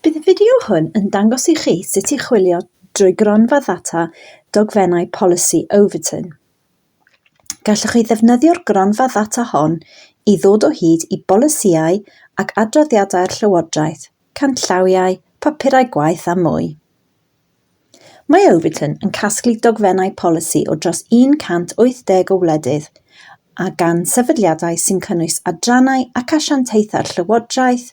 Bydd y fideo hwn yn dangos i chi sut i chwilio drwy gronfa ddata dogfennau polisi Overton. Gallwch chi ddefnyddio'r gronfa ddata hon i ddod o hyd i bolisïau ac adroddiadau'r Llywodraeth, canllawiau, papurau gwaith a mwy. Mae Overton yn casglu dogfennau polisi o dros 180 o wledydd a gan sefydliadau sy'n cynnwys adrannau ac asiantaethau'r llywodraeth,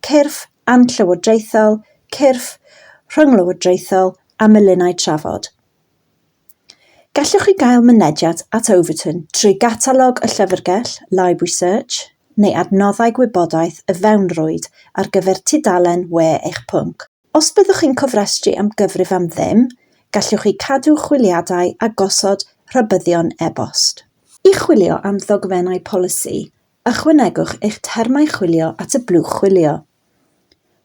cyrff anllywodraethol, cyrff rhynglywodraethol a miliynnau trafod. Gallwch chi gael mynediad at Overton trwy gatalog y llyfrgell, Library Search, neu adnoddau gwybodaeth y fewnrwyd ar gyfer tudalen we eich pwnc. Os byddwch chi'n cofrestru am gyfrif am ddim, gallwch chi cadw chwiliadau a gosod rhybuddion e-bost. I chwilio am ddogfennau polisi, ychwanegwch eich termau chwilio at y blwch chwilio.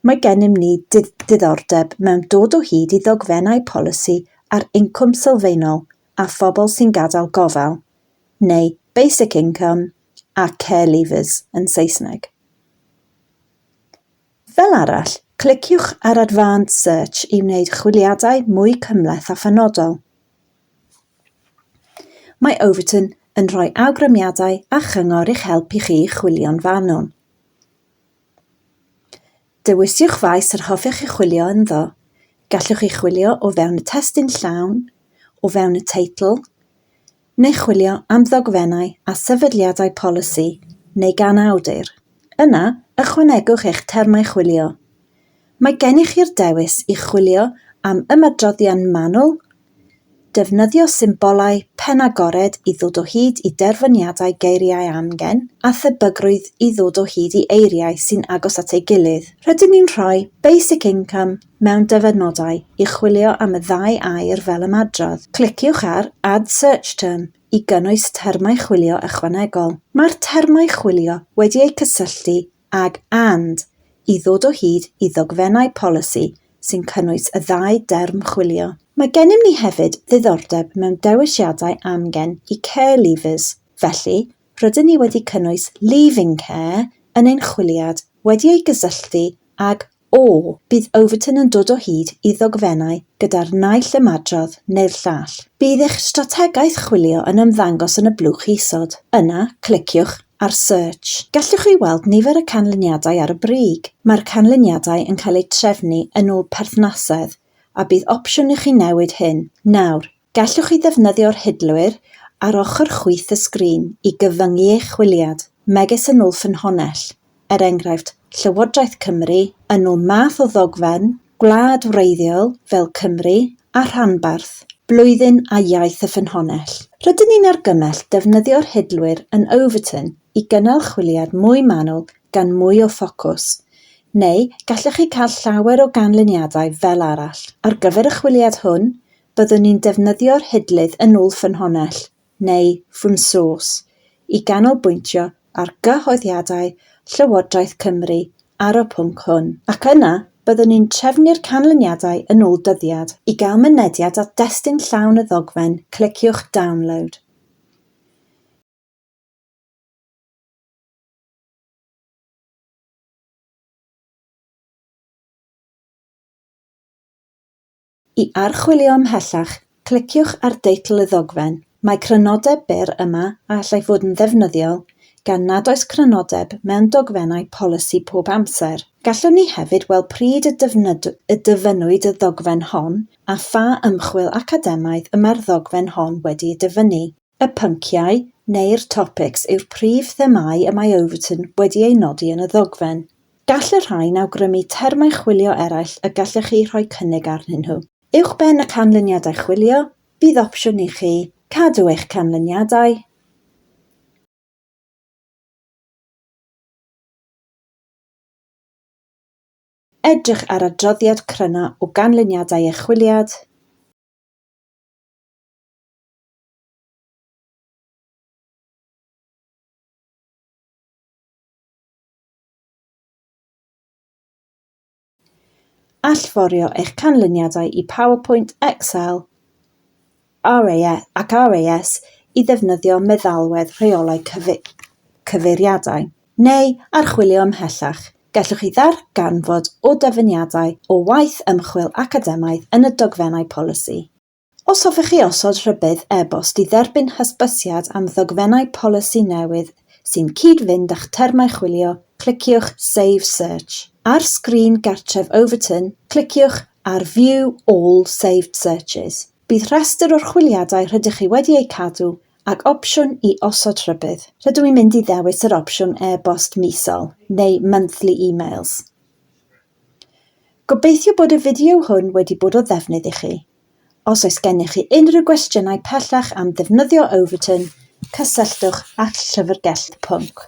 Mae gennym ni ddiddordeb mewn dod o hyd i ddogfennau polisi ar incwm sylfaenol a phobl sy'n gadael gofal, neu basic income a care leavers yn Saesneg. Fel arall, cliciwch ar Advanced Search i wneud chwiliadau mwy cymhleth a phenodol. Mae Overton yn rhoi awgrymiadau a chyngor i'ch helpu chi chwilio'n fanwl. Dewiswch faes yr hoffech chi chwilio ynddo. Gallwch chi chwilio o fewn y testun llawn, o fewn y teitl, neu chwilio am ddogfennau a sefydliadau polisi, neu gan awdur, yna ychwanegwch eich termau chwilio. Mae gennych chi'r dewis i chwilio am ymadroddion manwl, defnyddio symbolau pen agored i ddod o hyd i derfyniadau geiriau amgen, a thebygrwydd i ddod o hyd i eiriau sy'n agos at ei gilydd. Rydyn ni'n rhoi Basic Income mewn dyfynodau i chwilio am y ddau air fel ymadrodd. Cliciwch ar Add Search Term i gynnwys termau chwilio ychwanegol. Mae'r termau chwilio wedi eu cysylltu ag and i ddod o hyd i ddogfennau polisi sy'n cynnwys y ddau derm chwilio. Mae gennym ni hefyd ddiddordeb mewn dewisiadau amgen i care leavers, felly rydyn ni wedi cynnwys leaving care yn ein chwiliad wedi ei gysylltu ag O, bydd Overton yn dod o hyd i ddogfennau gyda'r naill ymadrodd neu'r llall. Bydd eich strategaeth chwilio yn ymddangos yn y blwch isod. Yna, cliciwch ar Search. Gallwch chi weld nifer y canlyniadau ar y brig. Mae'r canlyniadau yn cael eu trefnu yn ôl perthnasedd, a bydd opsiwn i chi newid hyn. Nawr, Gallwch chi ddefnyddio'r hidlwyr ar ochr chwith y sgrin i gyfyngu eich chwiliad, megis yn ôl ffynhonnell, er enghraifft, Llywodraeth Cymru, yn ôl math o ddogfen, gwlad wreiddiol, fel Cymru, a rhanbarth, blwyddyn a iaith y ffynhonnell. Rydyn ni'n argymell defnyddio'r hidlwyr yn Overton i gynnal chwiliad mwy manwl gan mwy o ffocws, neu gallwch chi cael llawer o ganlyniadau fel arall. Ar gyfer y chwiliad hwn, byddwn ni'n defnyddio'r hidlydd yn ôl ffynhonnell, neu from source, i ganolbwyntio ar gyhoeddiadau Llywodraeth Cymru ar y pwnc hwn, ac yna byddwn ni'n trefnu'r canlyniadau yn ôl dyddiad. I gael mynediad at destun llawn y ddogfen, cliciwch Download. I archwilio ymhellach, cliciwch ar deitl y ddogfen. Mae crynodeb byr yma a allai fod yn ddefnyddiol, gan nad oes crynodeb mewn dogfennau polisi pob amser. Gallwn ni hefyd weld pryd y dyfynnwyd y ddogfen hon a pha ymchwil academaidd y mae'r ddogfen hon wedi'i dyfynnu. Y pynciau neu'r topics yw'r prif themâu y mae Overton wedi eu nodi yn y ddogfen. Gall y rhain awgrymu termau chwilio eraill y gallech chi rhoi cynnig arnyn nhw. Uwchben y canlyniadau chwilio, bydd opsiwn i chi cadw eich canlyniadau. Edrych ar adroddiad cryno o ganlyniadau eich chwiliad. Allforio eich canlyniadau i PowerPoint, Excel ac RAS i ddefnyddio meddalwedd rheolau cyfeiriadau, neu archwilio ymhellach. Gallwch chi ddarganfod o dyfyniadau o waith ymchwil academaidd yn y dogfennau polisi. Os hoffech chi osod rhybudd e-bost i dderbyn hysbysiad am ddogfennau polisi newydd sy'n cyd-fynd â'ch termau chwilio, cliciwch Save Search. Ar sgrin gartref Overton, cliciwch ar View All Saved Searches. Bydd rhestr o'r chwiliadau rydych chi wedi eu cadw ac opsiwn i osod rhybudd. Rydw i'n mynd i ddewis yr opsiwn e-bost misol, neu monthly emails. Gobeithio bod y fideo hwn wedi bod o ddefnydd i chi. Os oes gennych chi unrhyw gwestiynau pellach am ddefnyddio Overton, cysylltwch â'r Llyfrgell Pwnc.